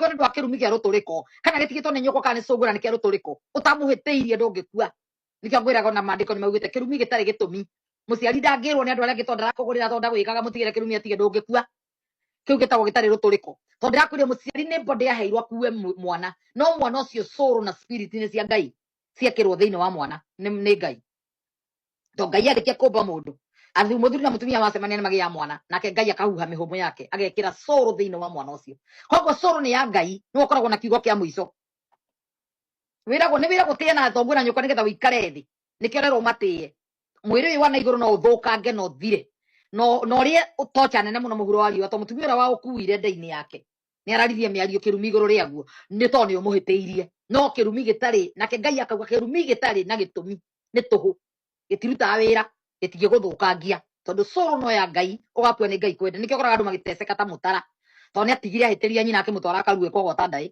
we ndu akiru mige ruturiko kana gitigitwo ni nyoko kana ni sungura ni kiruturiko utamuhitiirie ndungikua nikio ngwiraga na mandiko ni maugite kirumi gitari gitumi muciari ndangirwo ni andu aria gitonda rakugurira tonda gwikaga mutigire kirumi atige ndungikua kiu gitagwo gitari ruturiko tondu ndirakwire muciari ni body yaheirwo kuwe mwana no mwana ucio soul na spirit ni cia ngai ciekirwo thiini wa mwana ni ni ngai to ngai arĩkia kũmba mũndũ athu mũthuri na mũtumia macemania nĩ magĩaga mwana nake ngai akahuha mĩhũmũ yake agekĩra cũrũ thĩinĩ wa mwana ũcio koguo cũrũ nĩ ya ngai nĩ ũkoragwo na kiugo kĩa mũico wĩragwo nĩ wĩragwo tĩe na thoguo na nyũkwa nĩgetha ũikare thĩ nĩkĩo rerwo matĩe mwĩrĩ ũyũ wa na igũrũ no ũthũkange na ũthire no no ũrĩe ũtocha nene mũno mũhuro wa riũa to mũtumia ũrĩa wa ũkuire nda-inĩ yake nĩ araririe mĩario kĩrumi igũrũ rĩaguo nĩ tondũ nĩ ũmũhĩtĩirie no kĩrumi gĩtarĩ nake ngai akauga kĩrumi gĩtarĩ na gĩtũmi nĩ tũhũ gĩtirutaga wĩra gĩtingĩgũthũkangia tondũ soul no ya ngai ũgakua nĩ ngai kwende nĩkĩo ũkoraga andũ magĩteceka ta mũtara tondũ nĩ atigire ahĩtĩria nyina akĩmũtwara akarue kogota ndaĩ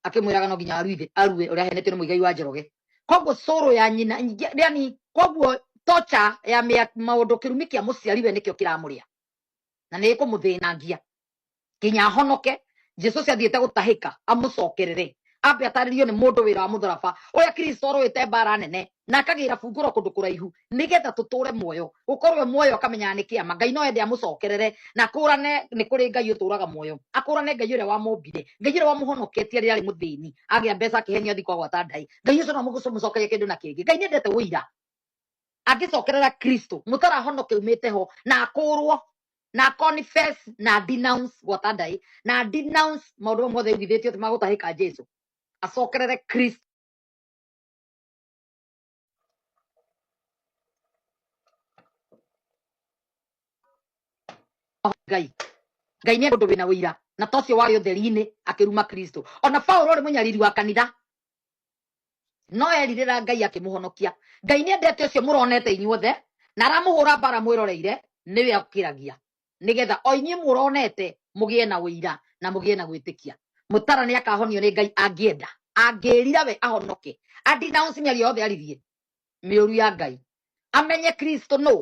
akĩmwĩraga no nginya aruithe arue ũrĩa aheanĩtio nĩ mũigai wa njoroge koguo soul ya nyina nyingĩ- yani koguo tocha ya mĩa- maũndũ kĩrumi kĩa mũciari we nĩkĩo kĩramũrĩa na nĩ ĩkũmũthĩnangia nginya ahonoke jesu ũcio athiĩte gũtahĩka amũcokerere ambe atarĩrio nĩ mũndũ wĩra wa mũtharaba ũrĩa kristo arũĩte mbara nene na akagĩra bungũro kũndũ kũraihu nĩgetha tũtũre muoyo gũkorwo we muoyo akamenyaga nĩ kĩama ngai no ende amũcokerere na kũrane nĩ kũrĩ ngai ũtũraga muoyo akũrane ngai ũrĩa wamũmbire ngai ũrĩa wamũhonoketie rĩrĩa arĩ mũthĩni agĩa mbeca akĩhenio athi kwagwata ndaĩ ngai ũcio no mũgũcũmũcokerie kĩndũ na kĩngĩ ngai nĩendete ũira angĩcokerera kristo mũtarahonoke umĩte ho na akũrwo na confess na denounce gwata ndai na denounce maũndũ mamwe mothe aiguithĩtio atĩ magũtahĩka jesu acokerere kristo ngai ngai nĩ ũndũ wĩna ũira na tocio warĩ ũtheri-inĩ akĩruma kristo ona paulo ũrĩ mũnyariri wa kanitha no erirĩra ngai akĩmũhonokia ngai nĩ endete ũcio mũronete inyuothe na aramũhũra mbara mwĩroreire nĩwe akĩragia nĩgetha o inyuĩ mũronete mũgĩe na ũira na mũgĩe na gwĩtĩkia mũtara nĩ akahonio nĩ ngai angĩenda angĩrira we ahonoke andinaunsi mĩario yothe aririe mĩũru ya ngai amenye kristo no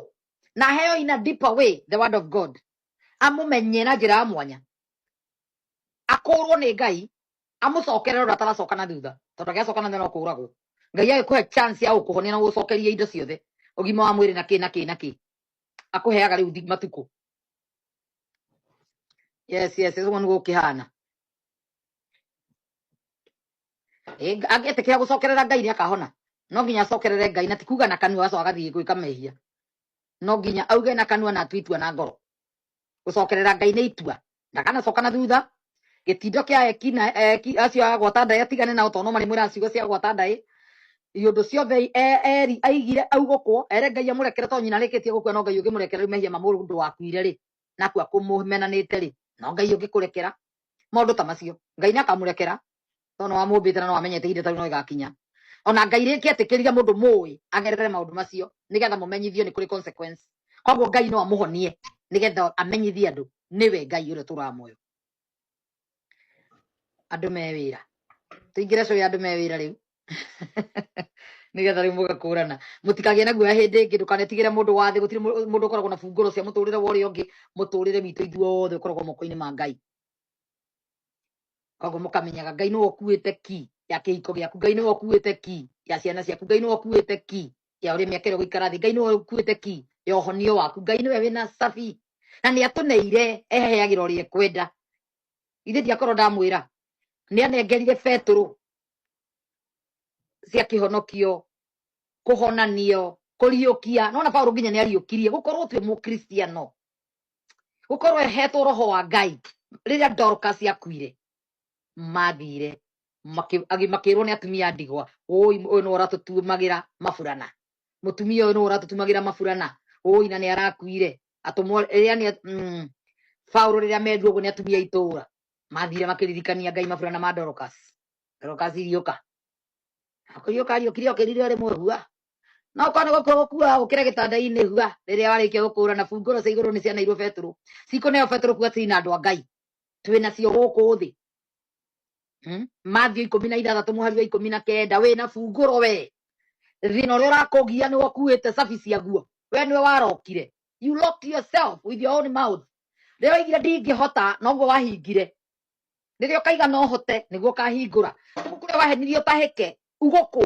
na heo ina deeper way the word of god amũmenye na njĩra ya mwanya akũrwo nĩ ngai amũcokere ũrĩa ataracoka na thutha tondũ agĩacoka na thutha no kũũragwo ngai agĩkũhe chance ya gũkũhonia na gũgũcokeria indo ciothe ũgima wa mwĩrĩ na kĩ na kĩ na kĩ akũheaga rĩu thi- matukũ yes yes ũguo nĩguo kĩhana Eh, nga- angĩtĩkĩra gũcokerera ngai nĩ akahona no nginya acokerere ngai na ti kuga na kanua agacoka agathiĩ gwĩka mehia no nginya auge na kanua na atue itua na ngoro gucokerera ngai nĩ itua ndakanacoka na thutha gĩtindo kĩa eki na eki acio a gwata ndaĩ atigane nao tondũ no marĩ mwĩra ciugo cia gwata ndaĩ iũndũ ciothe i- e- eri aigire augũkwo ere ngai amũrekere to nyina arĩkĩtie gũkua no ngai ũngĩmũrekera rĩu mehia ma mũndũ wakuire rĩ nakua kũmũmenanĩte rĩ no ngai ũngĩkũrekera maũndũ ta macio ngai nĩ akamũrekera tondũ nĩwamũmbĩte na nĩwamenyete ihinda ta rĩu no ĩgakinya ona ngai rĩngĩ etĩkĩrire mũndũ mũĩ agerere maũndũ macio nĩgetha mũmenyithio nĩ kũrĩ consequence koguo ngai no amũhonie nĩgetha amenyithie andũ nĩwe ngai ũrĩa ũtũraga muoyo andũ me wĩra tũingĩre cũĩ andũ me wĩra rĩu nĩgetha rĩu mũgakũrana mũtikagĩe na guoya hĩndĩ ĩngĩ ndũkanetigĩre mũndũ wa thĩ gũtirĩ mũ- mũndũ ũkoragwo na bungũro cia mũtũrĩre wa ũrĩa ũngĩ mũtũrĩre witũ ithuothe ũkoragwo moko-inĩ ma ngai koguo mũkamenyaga ngai nĩwe ũkuĩte ki ya kĩhiko gĩaku ngai nĩwe ũkuĩte ki ya ciana ciaku ngai nĩwe ũkuĩte ki ya ũrĩa mĩaka ĩrĩa gũikara thĩ ngai nĩwe ũkuĩte ki ya ũhonio waku ngai nĩwe wĩna cabi na nĩ atũneire eheagĩra ũrĩa ekwenda ithe ndiakorwo ndamwĩra nĩ anengerire betũrũ cia kĩhonokio kũhonanio kũriũkia nona paulo nginya nĩ ariũkirie gũkorwo twĩ mũkristiano gukorwo ehetwo roho wa ngai riria dorcas yakuire mathire maki- agi- makirwo ni atumia a ndigwa oi uyu ni uratutumagira maburana mutumia uyu ni uratutumagira maburana oi na ni arakuire atumwo riria ni mm, paulo riria mendu uguo ni atumia itura mathire makiririkania ngai maburana ma dorcas dorcas iriuka akuriuka ariukire okirire rimwe hua no korwo nĩ gũkua gũkuaga gũkĩra gĩtanda-inĩ hua rĩrĩa warĩkia gũkũra na bungũro cia igũrũ nĩ cianairwo betũrũ cikũneo betũrũ kuga tiri na andũ a ngai twĩ nacio gũkũ thĩ Hmm? Matthew ikũmi na ithathatũ mũhari wa ikũmi na kenda wĩ na bungũro we thĩna ũrĩa ũrakũgia nĩ wakuĩte cabi ciaguo we nĩwe warokire you locked yourself with your own mouth rĩrĩa waigire ndingĩhota noguo wahingire rĩrĩa ũkaiga no hote nĩguo ũkahingũra kũu kũrĩa wahenirie ũtahĩke ugũkwo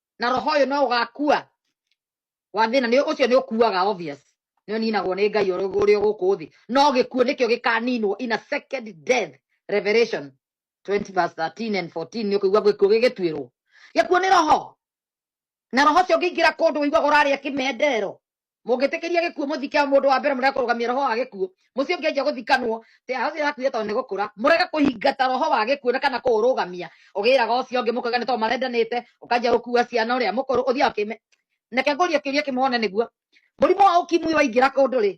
na roho ũyũ no ũgakua wa thĩna nĩ ũcio nĩ ũkuaga obvious nĩ ũninagwo nĩ ngai ũrĩ ũrĩ gũkũ thĩ no gĩkuũ nĩkĩo gĩkaninwo in a second death revelation 20 verse 13 and 14 nĩ ũkũigua gĩkuũ gĩgĩtuĩrwo gĩkuũ nĩ roho na roho ũcio ũngĩingĩra kũndũ ũiguaga ũrarĩa kĩmendero mũngĩtĩkĩria gĩkuũ mũthike mũndũ wa mbere mũrega kũrũgamia roho wa gĩkuũ mũciĩ ũngĩ anjia gũthikanwo te acio yakuire tondũ nĩ gũkũra mũrega kũhingata roho wa gĩkuũ na kana kũũrũgamia ũgĩraga ũcio ũngĩ mũkauga nĩ tondũ marendanĩte ũkanjia gũkua ciana ũrĩa mũkũrũ ũthiaga ũkĩme nake ngũria kĩũria kĩmwe one nĩguo mũrimũ wa ũkimwi waingĩra kũndũ rĩ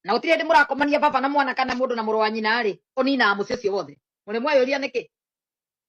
na gũtirĩ hĩndĩ mũrakomania baba na mwana kana mũndũ na mũrũ wa nyina rĩ ũninaga mũciĩ ũcio wothe mũrĩmweyũria nĩkĩ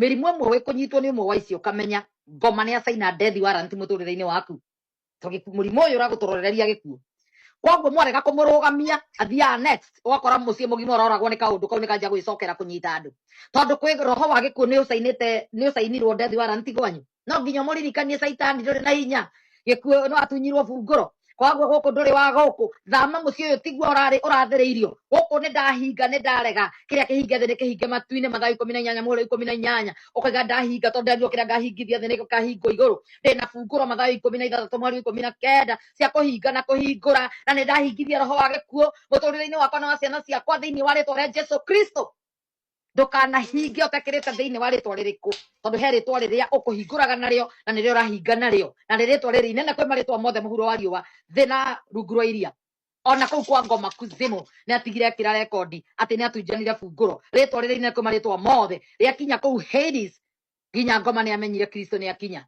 mĩrimũ ĩmwe wĩ kũnyitwo nĩ ũmwe wa icio ũkamenya ngoma nĩ acaina death warrant mũtũrĩre-inĩ waku to gĩku- mũrimũ ũyũ ũragũtũrorereria gĩkuũ koguo mwarega kũmũrũgamia athiaga next ũgakora mũciĩ mũgima ũroragwo nĩ kaũndũ kau nĩkanjia gwĩcokera kũnyita andũ tondũ kwĩ roho wa gĩkuũ nĩ ũcainĩte nĩ ũcainirwo death warrant gwanyu no nginya mũririkanie caitani ndũrĩ na hinya gĩkuũ no atunyirwo bungũro koguo gũkũ ndũrĩ wa gũkũ thama mũciĩ ũyũ tiguo ũrarĩ ũrathĩrĩirio gũkũ nĩ ndahinga nĩ ndarega kĩrĩa kĩhinge thĩ nĩ kĩhinge matu-inĩ mathaa ikũmi na inyanya mũhũro ikũmi na inyanya ũkaiga ndahinga tondũ nderirwo kĩrĩa ngahingithia thĩ nĩ gĩkahingwo igũrũ ndĩ na bungũro mathaa ikũmi na ithathatũ mweri wa ikũmi na kenda cia kũhinga na kũhingũra na nĩ ndahingithia roho wa gĩkuũ mũtũrĩre-inĩ wakwa na wa ciana ciakwa thĩinĩ wa rĩtwa rĩa jesu kristo ndũkanahinge ũtakĩrĩte thĩinĩ wa rĩtwa rĩrĩkũ tondũ he rĩtwa rĩrĩa ũkũhingũraga narĩo na nĩrĩo ũrahinga narĩo na nĩ rĩtwa rĩrĩ inene kwĩ marĩtwa mothe mũhuro wa riũa thĩ na rungu rwa iria ona kũu kwa ngoma kuzimu nĩ atigire ekĩra rekondi atĩ nĩ atunjanire bungũro rĩtwa rĩrĩ inene kwĩ marĩtwa mothe rĩakinya kũu Hades nginya ngoma nĩ amenyire kristo nĩ akinya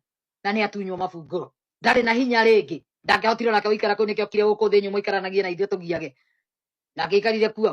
na nĩ atunywo mabungũro ndarĩ na hinya rĩngĩ ndangĩahotire onake gũikara kũu nĩkĩo okire gũkũ thĩ nyũmũ ikaranagie na ithuĩ tũgiage na angĩikarire kuo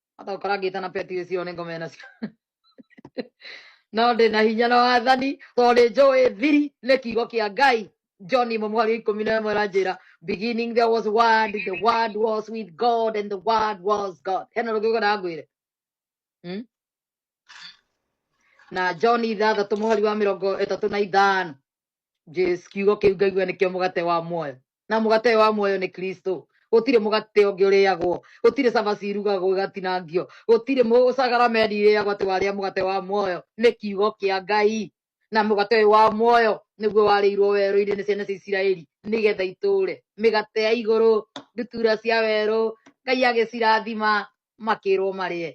hata ukora ngita na peti icio ni ngome nacio no ndi na hinya na wathani to ni njui thiri ni kiugo kia ngai john imwe mweri ikumi na imwe ranjira beginning there was word the word was with god and the word was god hena rugigo na ngwire hmm? na john ithathatå må hari wa mä rongo ä tatå na ithano Jesu, kiugo kä u ngaigua nä kä o må gate wa muoyo na mũgate ũyũ wa muoyo nĩ kristo gũtirĩ mũgate ũngĩ ũrĩagwo gũtirĩ cabaci irugagwo igatinangio gũtirĩ mũ- sacrament irĩagwo atĩ warĩa mũgate wa muoyo nĩ kiugo kĩa ngai na mũgate ũyũ wa muoyo nĩguo warĩirwo werũ-inĩ nĩ ciana cia isiraeli nĩgetha itũũre mĩgate ya igũrũ ndutura cia werũ ngai agĩcirathima makĩrwo marĩe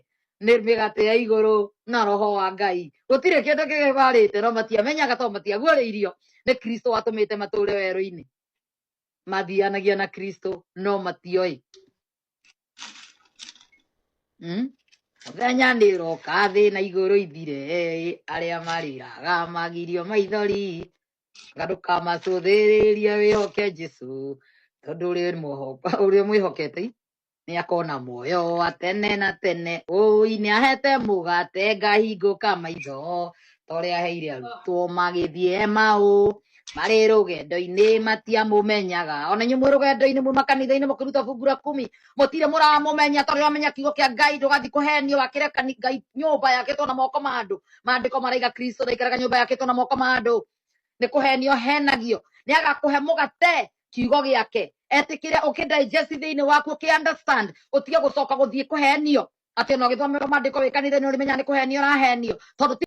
nĩ mĩgate ya igũrũ na roho wa ngai gũtirĩ kĩndũ kĩgĩbarĩte no matiamenyaga to matiaguũrĩirio nĩ kristo watũmĩte matũũre werũ-inĩ mathianagia na kristo no matioĩ Mm. mũthenya nĩ ũroka thĩ na igũrũ ithire arĩa marĩraga magirio maithori na ndũkamacũthĩrĩria wĩhoke jesu tondũ ũrĩ mũho- ũrĩ mwĩhokete nä akona muoyo wa tene na tene ũi nä ahete mũgate ngahingũka maitho torä aheire arutwo magĩthiĩ maũ marĩ rũgendo-inĩ matiamũmenyaga ona inyuĩ mwĩ rũgendo-inĩ muma kanitha-inĩ mũkĩruta fungu la kumi mũtirĩ mũramũmenya tondũ wamenya kiugo kĩa ngai ndũgathiĩ kũhenio wakĩre kani- ngai nyũmba yakĩtwo na moko ma andũ maandĩko maraiga kristo ndaikaraga nyũmba yakĩtwo na moko ma andũ nĩ kũhenio henagio nĩ agakũhe mũgate kiugo gĩake etĩkĩre ũkĩ digest thĩinĩ waku ũkĩ understand ũtige gũcoka gũthiĩ kũhenio atĩ ona ũgĩthomerwo maandĩko wĩ kanitha nĩ ũrĩmenya nĩ kũhenio ũrahenio tondũ ti-